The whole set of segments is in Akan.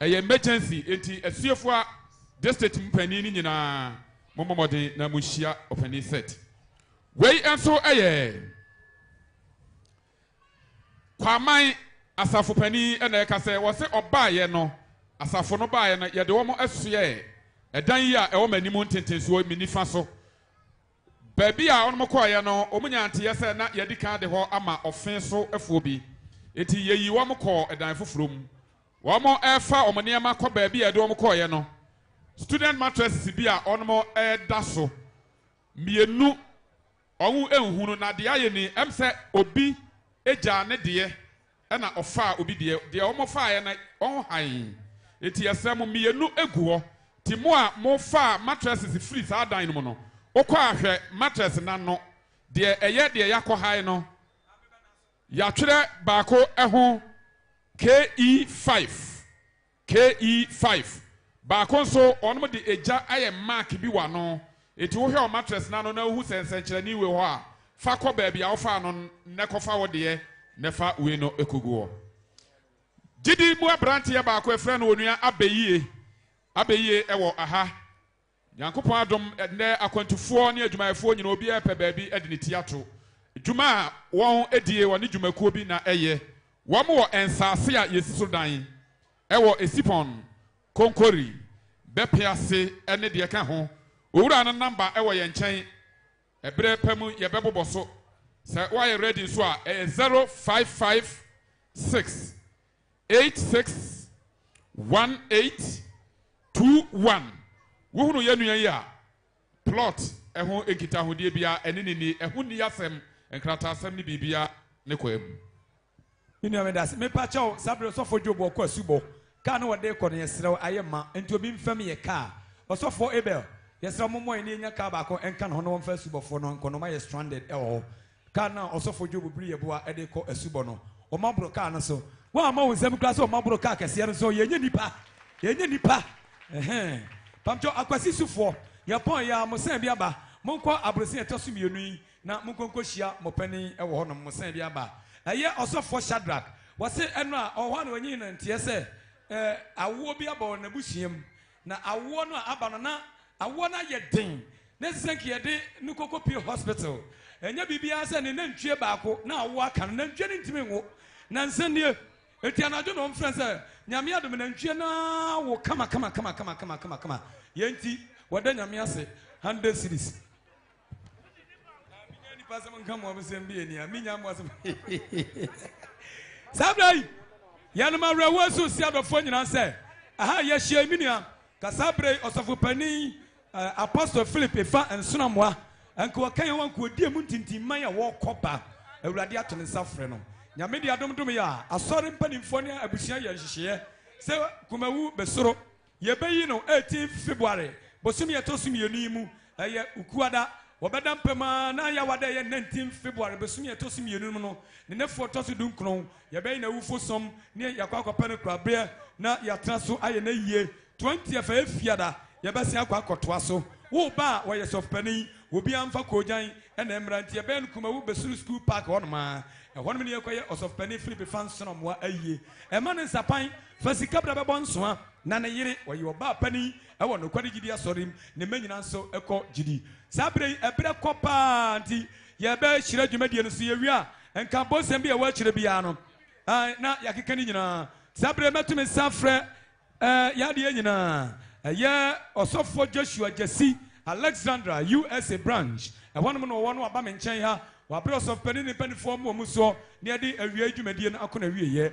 Ɛyɛ emergency enti asuafoa district mu panin no nyinaa mommɔ mmɔden na monhyia ɔpanin set. Wei nso yɛ Kwaman asafo panin na ɛka sɛ wɔse ɔbaeɛ no asafo no baeɛ no yɛde wɔn soɛɛ ɛdan yi a ɛwɔ m'anim ntentensoɔ yi me nifa so. Baabi a wɔn kɔeɛ no wɔn nyaa nteeɛ sɛ na yɛadi kan de hɔ ama ɔfe so foɔ bi enti yɛyii wɔn kɔɔ ɛdan foforɔ mu. Wɔrefa wɔn nneɛma kɔ baabi a yɛde wɔn kɔeɛ no, student mattresses bi a wɔreda so, mmienu, wɔnhu no, na deɛ ayɛ ni, ɛm sɛ obi gyaa ne deɛ na ɔfaa obi deɛ, deɛ wɔfaeɛ no wɔn hann, enti yɛsrɛ mo, mmienu gu hɔ, nti mo a mofaa mattresses firii saa dan no mu no, wokɔ a hwɛ mattress no ano, deɛ ɛyɛ deɛ yɛakɔ hann no. Yɛatwerɛ baako ho, KE five, KE five. Baako nso, wɔde egya ayɛ mark bi wɔ ano. Enti wohwɛ wɔ mattress no ano na wohu sɛ nsɛnkyerɛnne wɔ hɔ a, fa kɔ baabi a wofaa no nnɛ kɔfa wo deɛ na fa wei no kɔgu hɔ. Gyidi mu aberanteɛ baako, yɛfrɛ no Onua Abeyie, Abeyie wɔ ha. Nyankopɔn adom, ɛnnɛ akwantufoɔ ne adwumayɛfoɔ nyinaa obiara repɛ baabi de ne ti ato dwuma a wɔn die wɔ ne dwumakuo bi na ɛyɛ wɔn wɔ nsaase a yɛsi so dan wɔ Esipon, Konkori, Bɛpe ase ne deɛ ɛka ho. Owura no namba wɔ yɛn nkyɛn, ɛberɛ pa mu yɛbɛbobɔ so. Sɛ woayɛ ready nso a, ɛyɛ zero five five six eight six one eight two one Wohunu yɛn nua yi a, plot ho nkitahodeɛ biara, ɛne no nni, ɛho nni asɛm, nkrataasɛm ne biribiara ne kwaa mu. Me nua me dase. Me pa kyɛw saa bere ɔsɔfo Job ɔkɔ asubɔ. Car no wɔde rekɔ no yɛ serɛ wo ayɛ ma nti obi nfa mi yɛ car. Ɔsɔfoɔ Abel yɛ serɛ wo mo mmɔ yɛn na yɛnya car baako nka ne ho na wɔnfa asubɔfoɔ no nkɔ na ɔma yɛ stranded ɛwɔ hɔ. Kaa no a ɔsɔfo Job bere yɛboa de rekɔ asubɔ no, wɔma boro kaa no so. Woamma wo nsam koraa sɛ wɔma boro kaa kɛseɛ no so. Yɛnyɛ nnipa. Yɛnyɛ nnipa. Ɛhɛn. Pamkyɛw, Akwasi Sufoɔ, yɛpɔn yɛ a, mo sɛn bi aba. Monkɔ abrosea a ɛtɔ so mmienu yi na monkɔ nkɔhyia mo panin wɔ hɔnom. Mo sɛn bi aba. Ɛyɛ ɔsɔfoɔ Shadrach. Wɔse ɛno a, ɔwɔ hɔ a na wanyini nanteɛ sɛ, eh, awoɔ bi aba wɔ n'abusua mu. Na awoɔ no a aba no na awoɔ no ayɛ den na ɛsɛ sɛ nka yɛde no kɔkɔpie hospital. Ɛnyɛ biribiara sɛ ne nantwie baako na awoɔ aka no, nantwie no ntumi nwo nansa nie. Enti anadwo na wɔmfrɛ no sɛ Nyame adom nantwie no awo kamakamakama. Yei nti wɔda Nyame ase 100 cedis. menya nipa sɛm nka mo abosɛm bi ani a menya mo asɛm saa berɛ yi yɛnom awerɛhoɔ so si adɔfoɔ nyinaa sɛ aha yɛahyia me nua ka saa berɛ yi ɔsɔfo panin eh, apostle philip ɛfa nsonamoa ɛnka wɔka yɛn wankoɔdie mu ntintimman a wɔkɔ ba awurade ato ne nsa frɛ no nyame de adomdom yɛ a asɔre mpanimfoɔ ne abusua yɛ nhyehyɛeɛ sɛ kumawu bɛsoro Yɛbɛyi no 18 February, bosome a ɛtɔ so mmienu yi mu. Ɛyɛ Ukuada. Wɔbɛda mpam ara na ayɛ Awada a ɛyɛ 19 February, bosome a ɛtɔ so mmienu no mu no, ne nnafua a ɛtɔ so dunkron. Yɛbɛyɛ n'awufo som ne yɛakɔ akɔpɛ no korabeɛ na yɛatena so ayɛ n'ayie. 20th a ɛyɛ Fiada, yɛbɛsan akɔ akɔtoa so. Wo ba a ɔyɛ sɔfopanin, obiara mfa koogyan na ɛmmra nti, yɛbɛyɛ no Kumawu Besuru School Park hɔnom ara. Ɛhɔnom na yɛkɔyɛ Ɔsɔfopanin Philip Fanson Amoah ayie. Ɛmma no nsapan Fa sika bra bɛbɔ nsoa na ne yere ɔyɛ ɔbaa panin wɔ nokware gyidi asɔre mu, ne mma nyinaa nso kɔ gyidi. Saa bere yi ɛberɛ kɔ paa nti yɛbɛhyira dwumadie no so yɛwie a nka abosem bi a ɛwɔ akyire biara no na yɛakeka ne nyinaa. Saa bere yi mɛto me nsa afrɛ yɛn adeɛ nyinaa ɛyɛ Ɔsɔfoɔ Joshua Gyasi, Alexandra, USA. Branch, ɛhɔnom na ɔwɔ na waba me nkyɛn ha, wabrɛ Ɔsɔfopanin ne ne mpanimfoɔ mmoamu soɔ na yɛde awiei dwumadie no akɔ n'awieɛ.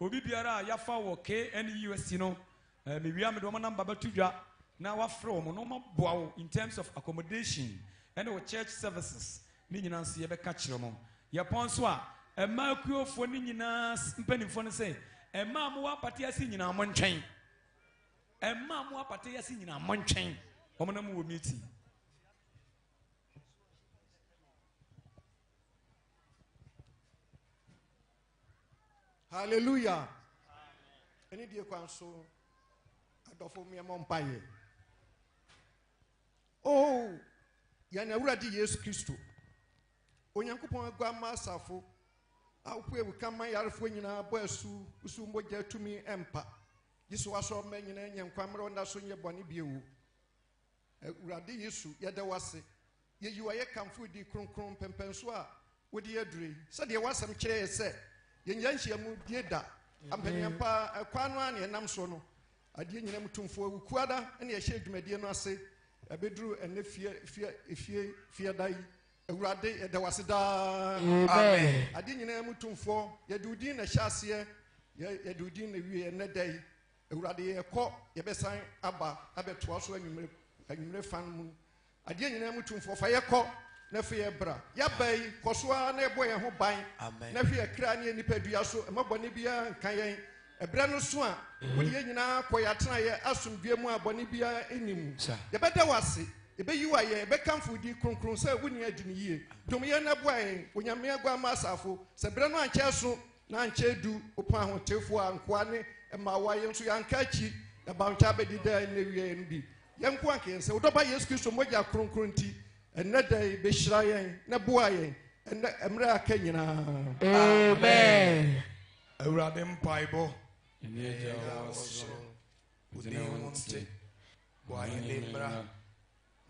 Obi biara a yɛafa wɔ KNUST no, mewia mede wɔn namba bɛto dwa na wafrɛ wɔn na wɔaboa wo in terms of accommodation ɛne wo church services ne nyinaa nso yɛbɛka kyerɛ wɔn. Yɛpɔn nso a, ɛma akuofoɔ ne nyinaa mpanimfoɔ no sɛ, ɛma a mowɔ apate ase nyinaa montwɛn. Ɛma a mowɔ apate ase nyinaa montwɛn. Wɔn na mowɔ meeting. hallelujah ɛne die kwan so adɔfo mmeɛmɔ mpa yɛ oh yɛn awurade yesu kristo onyankopɔn aguamma asafo awopo awuka ma yarefoɔ nyinaa bɔ asu wosu mogya tumi mpa gye so wasɔ ɔma nyinaa nyɛ nkwa mmerɛ ɔnda so nyɛ bɔne bio Awurade Yesu, yɛda wo ase. Yeyi wo ayɛ kamfo wo din kronkron, mpɛmpɛnso a wode yɛn aduru yi. Sɛdeɛ w'asɛm kyerɛ yɛ sɛ, yɛnyɛ nhyiamu die da. Ampaniampa ɛkwan no ara na yɛnam soɔ no. Adeɛ nyina mu tumfoɔ, wo kuada na yɛhyɛ dwumadie no ase ɛbɛduru ɛnɛ fie fie efie fie da yi. Awurade, yɛda wo ase daa. Amen. Adeɛ nyina mu tumfoɔ, yɛde wo din na ɛhyɛ aseɛ, yɛde wo din na ɛwie ɛnɛ da yi. Awurade yɛkɔ yɛbɛsan aba abɛtoa so anwummere anwummere fa no mu adeɛ nyinaa mu tumfoɔ fa yɛkɔ na fi yɛ bra yɛaba yi kɔ so ara na ɛbɔ yɛn ho ban na hwɛ yɛ kra ne yɛ nipadua so ɛma bɔne biara nka yɛn ɛberɛ no so a mhm. wode yɛ nyinaa kɔ yɛatena yɛ asomdue mu a bɔne biara nni mu yɛbɛda wo ase yɛbɛyi wo ayɛ yɛbɛkamfo di kronkron sɛ wonni adi no yie dom yɛn na boa yɛn onyame aguama asafo sɛ berɛ no ankyɛ so Na nkyɛ edu ɔpon ahotefo a nkoa ne mmaawa yɛ nso yɛanka akyi, na bawntwa abedi daa nna awiei no bi. Yɛn nkoa anka yɛn sɛ, Wo Dɔba Yesu Kristo mogya kronkron nti, ɛnnɛ da yi, behyira yɛn na boa yɛn ɛnnɛ mmere a aka nyinaa. Amen. Awurade mpaebɔ. Yɛn Agya a ɔwɔ soro, wo din nte, w'ahenni mmra,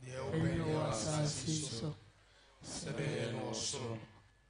deɛ wopɛ yɛ wɔ asase so sɛdeɛ ɛyɛ no wɔ soro.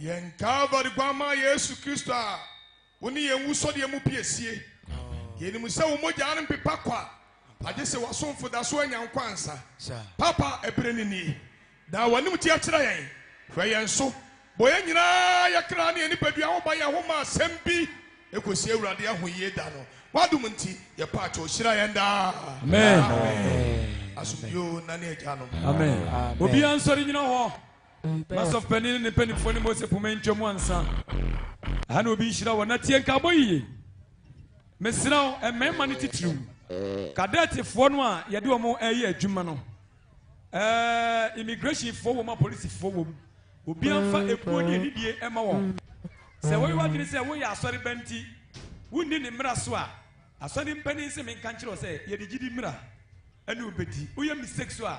Yɛn Calvary guammaa Yesu Kristo a wo ne yɛn wusɔdeɛ mu pie sie. Yɛnim sɛ wo mogyaa no mpepa kwa, agye sɛ w'asomfo da so anya nkwa ansa. Papa, ɛberɛ no nie. Daa w'anim teɛ kyerɛ yɛn. Hwɛ yɛn so. Bɔ yɛn nyinaa, yɛn kra ne yɛn nipadua ho ban yɛn ho ma asɛm bi ɛkɔsi Awurade ahoyie da no. W'adom nti, yɛpa kyɛw, hyira yɛn daa. Amen. Asomdwoe o nane agyanom. Amen. Obiara nsɔre nyina hɔ. Microsoft panyin ne ne mpanyimfoɔ ne Mose poma ntwa mu ansa. Aha na obi nhyira wɔ na tie nka abɔ yiye. Mesrɛ wo, mmarima no titiriw, kadɛtefoɔ no a yɛde wɔn ɛyɛ adwuma no, ɛɛ immigrationfoɔ wɔ mu a polisifoɔ wɔ mu, obiara mfa ekuo ne anidie ɛma wɔn. Sɛ wɔyɛ w'adwene sɛ woyɛ asɔre ba nti wonni ne mmara so a, asɔre mpanyin se menka nkyerɛ wo sɛ yɛde gyidi mmara ɛne wobɛdi. Woyɛ mistake so a,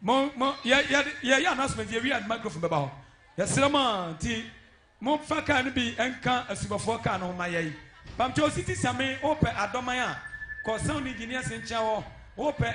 mo mo yɛ yɛ yɛ yɛ announcement yɛ wia microphone bɛba hɔ yɛsrɛ mo a nti mo fa kaa no bi nka asubɔfoɔ kaa no ho ma yɛn pamkyɛ ositi same wopɛ adɔman a kɔ sound engineers nkyɛn hɔ wopɛ